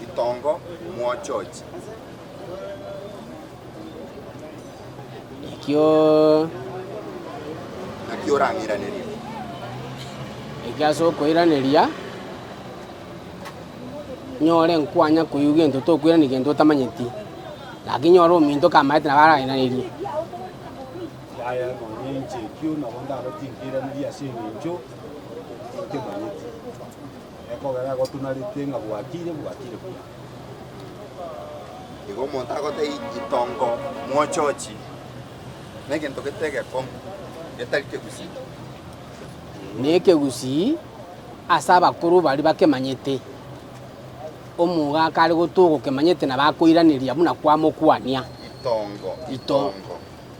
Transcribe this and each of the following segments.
Ritongo mwachochi. Ekio Naki orang'iranerie. ekio ase okoiraneria nyore nkwanya koigwa gento tokoirania gento otamanyeti lakini nyore ominto kamaete nabo arairanerie. Yaya, nonya inche ekio nabo ndabatinka eiraneria ase engencho Tokemanyeti ekogera egotunarete ng'a bwakire, bwakire buya. Igo omonto agotee itongo mwochochi negento gete egekong'u, getari kegusii. Nekegusii ase abakoro baria bakemanyete. Omoga akare gotogokemanyete na bakoiraneria buna kwamokwania. Itongo, itongo.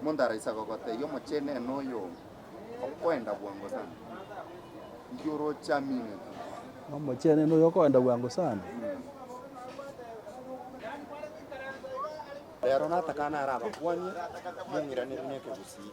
Omonto araisa gogotebia, Omochenu ere noyo okoenda bwango sana, inki orochaminete? Omochenu ere noyo okoenda bwango sana. Reero natakane are abakwanie, mong'iranerie nekegusii.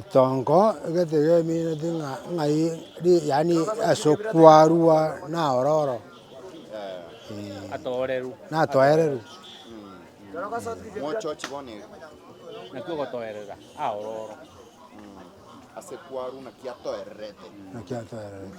Itongo, egento kiamineti ng'a ng'ai ri yaani ase okwarwa na ororo natoereru. Naki ogotoerera aororo. Naki atoererete.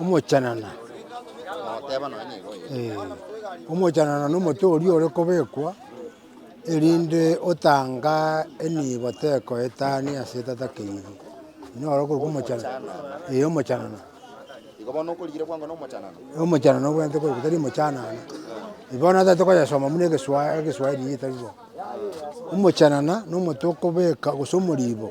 omochenena, eh, omochenena na omote oria ore kobekwa, erinde otanga enibo tekoetani ase etata keyiri, noro okorokwa omochenena, eh omochenena. Igo bono okorigire bwango na omochenena? Eh omochenena obwenerete okorokwa tari omochanana, bono natagete koyesoma buna egeswa egeswahiri egetari bo, omochenena na omote okobeka gose omoribo.